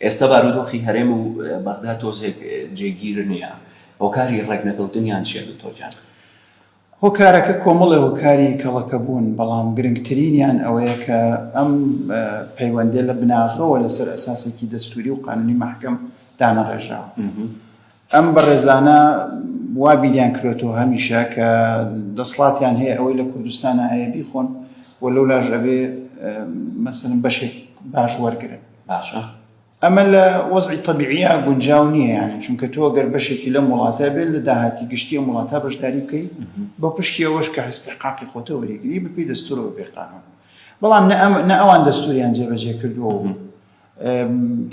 ئێستا بارودۆخی هەرێم و بەغدا تۆزێک جێگیر نیە، هۆکاری ڕێکنەکەوتنیان چیە دکتۆر گیان؟ هۆکارەکە کۆمەڵێ هۆکاری کەڵەکە بوون، بەڵام گرنگترینیان ئەوەیە کە ئەم پەیوەندیە لە بناغەوە لەسەر ئەساسێکی دەستوری و قانونی مەحکەم دانەڕێژراوە. ئەم بەڕێزانە وا بیریان کروەتەوە هەمیشە کە دەسڵاتیان هەیە ئەوەی لە کوردستانە هەیە بیخۆن و لەو لاژ ئەبێ مەسن بەشێک باش وەرگن باشە ئەمە لە وەزی طببیعە گونجاو نییە یانی چونکە تۆ گەر بەشێکی لەم وڵاتە بێت لە داهاتی گشتی وڵاتە بەشداری بکەیت بە پشتی ئەوەش کە هەستحقاقی خۆتە وەرەگری بپی دەستور و بێقانون بەڵام نە ئەوان دەستوریان جێبەجێ کردووە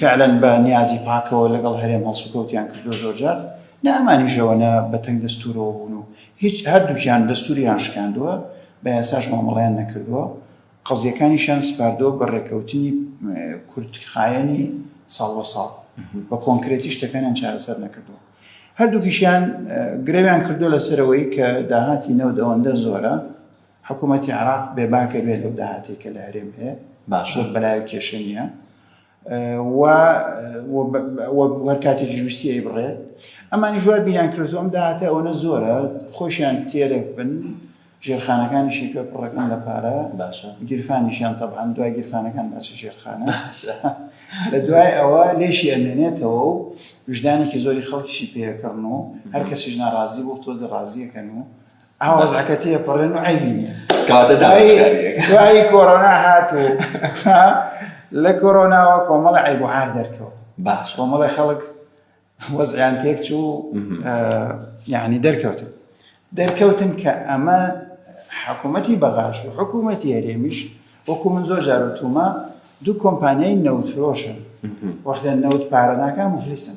فعلەن بە نیازی پاکەوە لەگەڵ هەرێم هەڵسوکەوتیان کردوە زۆرجار نە ئەمانیشەوە نە بە تەنگ دەستورەوە بوون و هیچ هەردووکیان دەستوریان شکاندووە بە یاساش مامەڵەیان نەکردووە قەزیەکانیشیان سپاردووە بە ڕێکەوتنی کورتخایەنی ساڵ بە ساڵ بە کۆنکرێتی شتەکانیان چارەسەر نەکردووە هەردووکیشیان گرەویان کردو لەسەرەوەی کە داهاتی نەوت ئەوەندە زۆرە حکومەتی عێراق بێباکە بێت لەو داهاتەی کە لە هەرێم هەیە زۆر بەلایە کێشە نییە و وەک هەر کاتێکیش ویستی ئەی بڕێت ئەمانی جوای بیران کردو ئەم داهاتە ئەوەنە زۆرە خۆشیان تێرەک بن ژێرخانەکانیشی پێ پڕەکەن لە پارە باشە گیرفانیشیان تەبان دوای گیرفانەکان باچ ژێرخانە لە دوای ئەوە لێشی ئەمێنێتەوە و وژدانێکی زۆری خەڵکیشی پێکڕن و هەر کەسیش ناڕازی بۆ تۆزە ڕازیەکەن و ئا وەزعەکە تێپەڕێن و عەیبی نییە کاتە داویشکاریەکە دوایی کۆرۆنا هات و ها لە کۆرۆناوە کۆمەڵی عەیب و عار دەرکەوت باش کۆمەڵی خەڵک وەزعیان تێک چوو مهم. ئا، یعنی دەرکەوتن دەرکەوتن کە ئەمە حکوومەتی بەغاش و حکوومەتی هەرێمیش وەکو من زۆر جار وتومە دوو کۆمپانیای نەوتفرۆشن وەختە نەوت پارە ناکە مفلیسن